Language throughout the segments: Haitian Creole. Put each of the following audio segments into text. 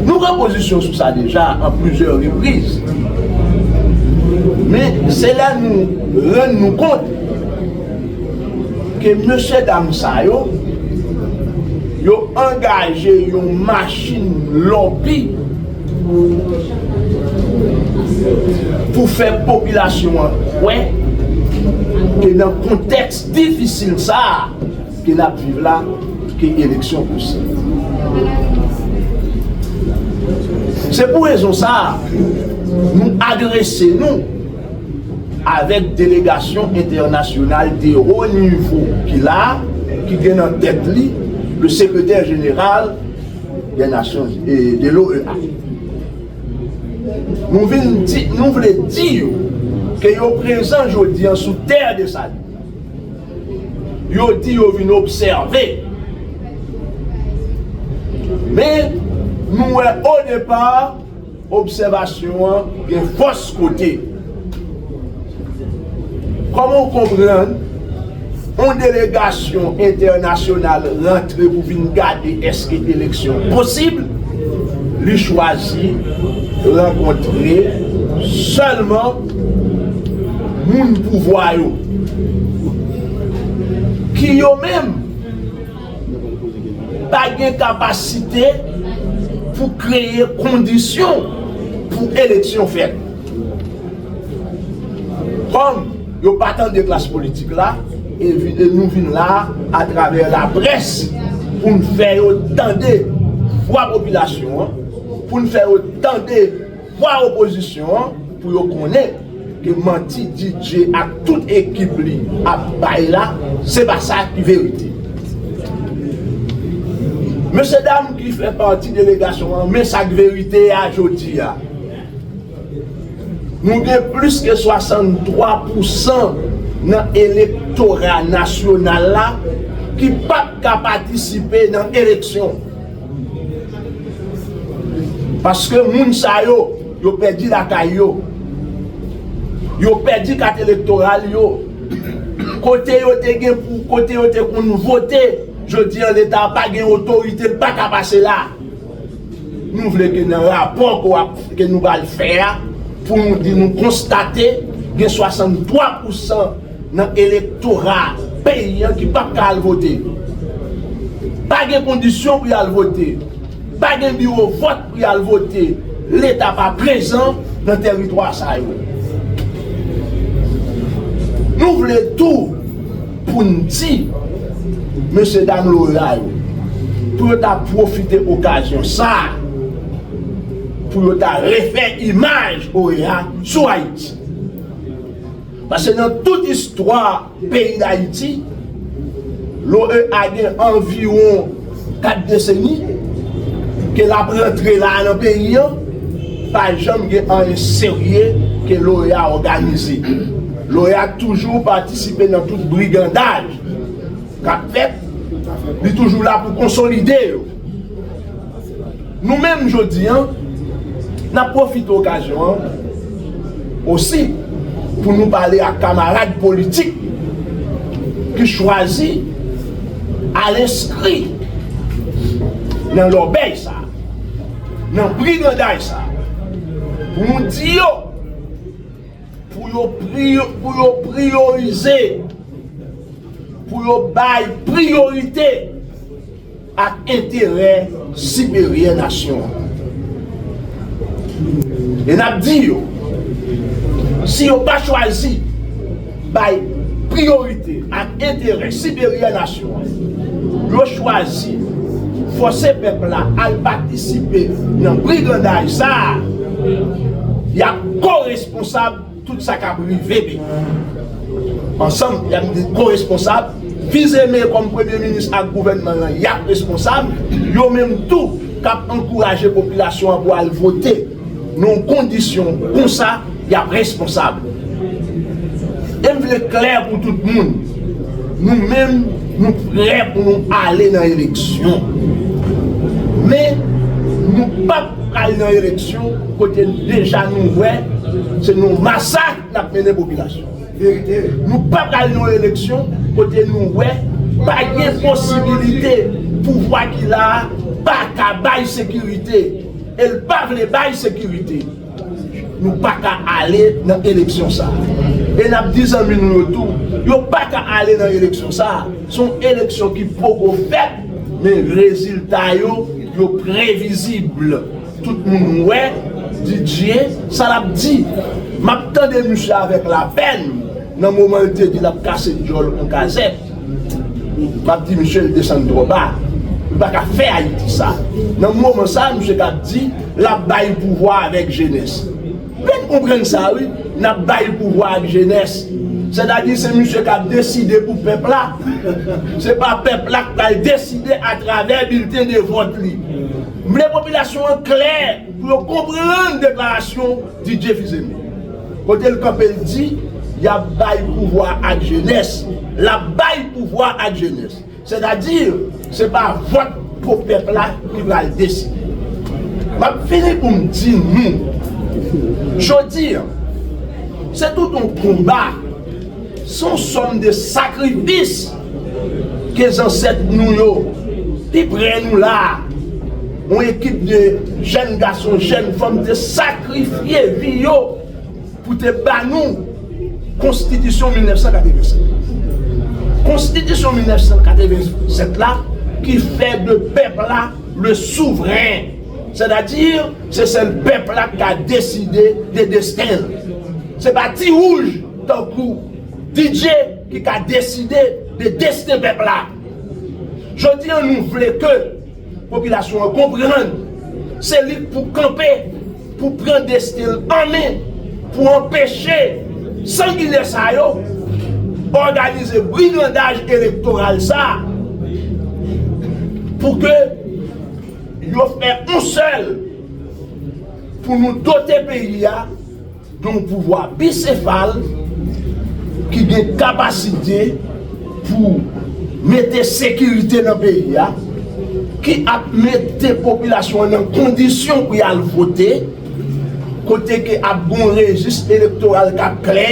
Nou pran pozisyon sou sa deja an plizyè repriz. Men se lè nou rann nou kont ke mesye dam sa yo, yo angaje yon machin lòbi pou fè popilasyon an kwè ke nan kontèks difisil sa a, Ke nap viv la ke eleksyon posib. Se pou rezon sa a nou adrese nou avèk delegasyon entènasyonal de wo nivo ki la a ki gen nan tèt li le sekretè jeneral de nasyon de l'OEA. Nou vin di nou vle di yo ke yo prezan jodi an sou tè de Saline. Yo di yo vin obsève. Men, nou wè odepa, obsèvasyon an gen fòs kote. Kòman ou konprann yon delegasyon entènasyonal rantre pou vin gade èske eleksyon posib, li chwazi rankontre sèlman. moun pouvwa yo ki yo menm pa gen kapasite pou kreye kondisyon pou eleksyon fèt. Kòm yo pa tande klas politik la, e nou vin la atravè laprès pou n fè yo tande vwa popilasyon an, pou n fè yo tande. Vwa opozisyon an pou yo konnen ke manti DJ ak tout ekip li ap bay la se pa sa ki verite. Mesye dam ki fè pati delegasyon an men sa k verite a jodi a. Nou gen plis ke 63 pousan nan elektora nasyonal la ki pap ka patisipe nan eleksyon. Paske moun sa yo, yo pèdi lakay yo, yo pèdi kat elektoral yo, kote yo te gen pou, kote yo te konn vote, jodi an leta pa gen otorite, l pa ka pase la. Nou vle ke nan rapò ke nou pral fè a, pou nou di nou konstate gen 63 pousan. nan elektora peyi an ki pap ka al vote. Pa gen kondisyon pou y al vote. Pa gen biwo vòt pou y al vote. Leta pa prezan nan teritwa sa yo. Nou vle tou pou n di mesye dam loya yo pou yo ta pwofite okazyon sa a pou yo ta refè imaj oea sou Ayiti. Pase nan tout istwa peyi Dayiti, l'OEA gen anviwon 4 deseni ke l'ap rantre la a nan peyi an, pa janm gen anyen serye ke l'OEA òganize. L'OEA toujou patisipe nan tout brigandaj k'ap fèt, li toujou la pou konsolide yo. Nou menm jodi an, n ap pwofite okazyon an osi pou nou pale ak kamarad politik ki chwazi al enskri nan lòbèy sa a, nan briganday sa a, pou nou di yo pou yo priyorize, pou yo bay priyorite. ak enterè siperyè nasyon an. E n ap di yo, si yo pa chwazi bay priyorite ak enterè siperyè nasyon an, yo chwazi fòse pèp la al patisipe nan brigandaj sa a, y ap koresponsab. Tout sa kap rive peyi. Ansanm yap vin koresponsab, Fils-Aimé kòm premye minis ak gouvènman lan yap responsab, yo menm tou kap ankouraje popilasyon an pou al vote nan kondisyon konsa yap responsab. E m vle klè pou tout moun, nou menm nou prè pou nou ale nan eleksyon men nou pap. Pral nan eleksyon kote deja nou wè se yon masak nap mennen popilasyon an. Nou pa pral nan yon eleksyon kote nou wè pa gen posibilite pouvwa ki la a pa ka bay sekirite e l pa vle bay sekirite. Nou pa ka ale nan eleksyon sa a. E n ap di zanmi nou yo tou yo pa ka ale nan eleksyon sa a. Se yon eleksyon ki poko fèt. Men rezilta yo, yo previzib. Tout moun wè, Didier, sa l ap di. M ap tande misye avèk lapèn nan moman l te di l ap kase dyòl on kazèk. M ap di misye l desann twò ba. Li pa ka fè Ayiti sa. Nan moman sa a, misye ka di l ap bay pouvwa avèk jenès. Mèt konprann sa wi, nap bay pouvwa ak jenès. Sètadi se misye kap deside pou pèp la. Se pa pèp la k pral deside atravè bilten de vòt li. M vle popilasyon an klè pou yo konprann deklarasyon Didier Fils-Aimé. Kote l kanpe l di, yap bay pouvwa ak jenès. Lap bay pouvwa ak jenès. Sètadi, se pa vòt po pèp la ki pral deside. M ap fini pou m di nou, jodi an, se tout yon konba, se yon sòm de sakrifis ke zansèt nou yo, pi pre nou la a, yon ekip de jèn gason, jèn fanm te sakrifye vi yo. Pou te ba nou Konstitisyon 1987. Konstitisyon 1987 la ki fè de pèp la le souvren, sètadi se sèl pèp la ki ka deside de desten l. Se pa ti wouj tankou DJ ki ka deside de desten pèp la. Jodi an nou vle ke. Popilasyon an konprann se li k pou kanpe pou pran desten l an men pou anpeche sanginè sa yo òganize brigandaj elektoral sa pou ke yo fè yon sèl pou nou dote peyi a. Gen yon pouvwa bisefal ki gen kapasite pou mete sekirite nan peyi a, ki ap mete popilasyon an nan kondisyon pou y al vote, kote ke ap gen yon rejis elektoral k ap klè,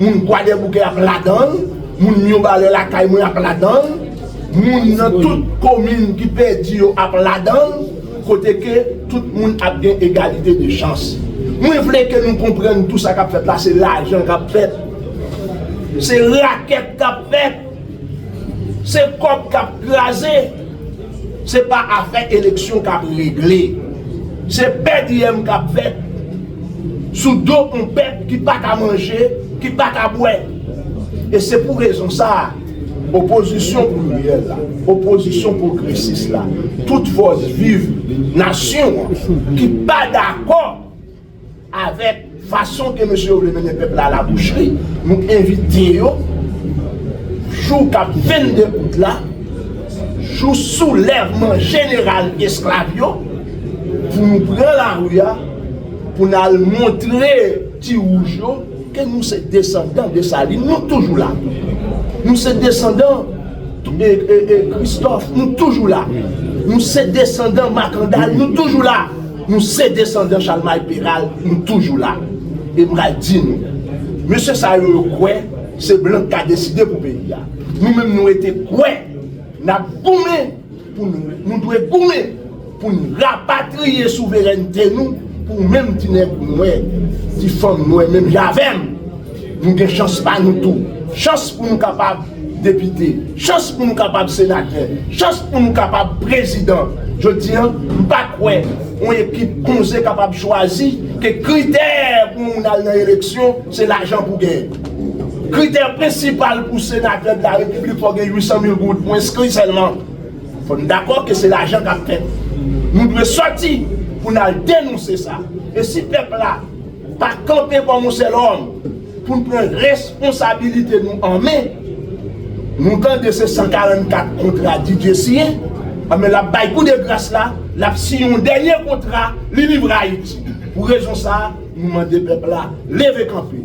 moun Kwadèboukè ap ladan l, moun Miyobalè lakay mwen ap ladan l, moun nan tout komin ki pèdi yo ap ladan l. kote ke tout moun ap gen egalite de chans. Mwen vle ke nou konprann tou sa kap fèt la se lajan kap fèt, se rakèt kap fèt, se kòb kap kraze, se pa afè eleksyon kap regle, se pè diyèm kap fèt sou do yon pèp ki pa ka manje, ki pa ka bwè. E se pou rezon sa. Opozisyon pliryèl la, opozisyon pwogresis la, tout fòs viv nasyon an ki pa dakò avèk fason ke mesye yo vle mennen pèp la alabouchri, nou envite yo jou k ap 22 out la, jou soulèvman jeneral esklav yo, pou nou pran lari a, pou n al montre ti wouj yo. Ke nou se desandan Desalin, nou toujou la. Nou se desandan Kristòf, nou toujou la. Nou se desandan Makandal, nou toujou la. Nou se desandan Chalmay Peral, nou toujou la. E m pral di nou, mesye sa yo yo kwè se blan k ka deside pou peyi a. Nou menm nou rete kwè n ap goumen. Pou nou, nou dwe goumen pou n rapatriye souverènte nou pou menm ti nèg nwè, ti fanm nwè menm jan avè m, nou gen chans pa nou tou. Chans pou nou kapab depite, chans pou nou kapab senatè, chans pou nou kapab prezidan. Jodi an, m pa kwè yon ekip konze kapab chwazi ke kritè pou moun al nan eleksyon se lajan pou gen. Kritè prensipal pou senatè de la repiblik fò gen 800 mil goud pou enskri sèlman. Fò n dakò ke se lajan k ap fè. Nou dwe sòti pou n al denonse sa. E si pèp la pa kanpe kòm yon sèl òm pou n pran responsabilite nou an men, nou tande se 144 kontra Didier siyen, anben l ap bay kou de gras la, l ap siyen yon dènye kontra, li livre Ayiti. Pou rezon sa, nou mande pèp la leve kanpe.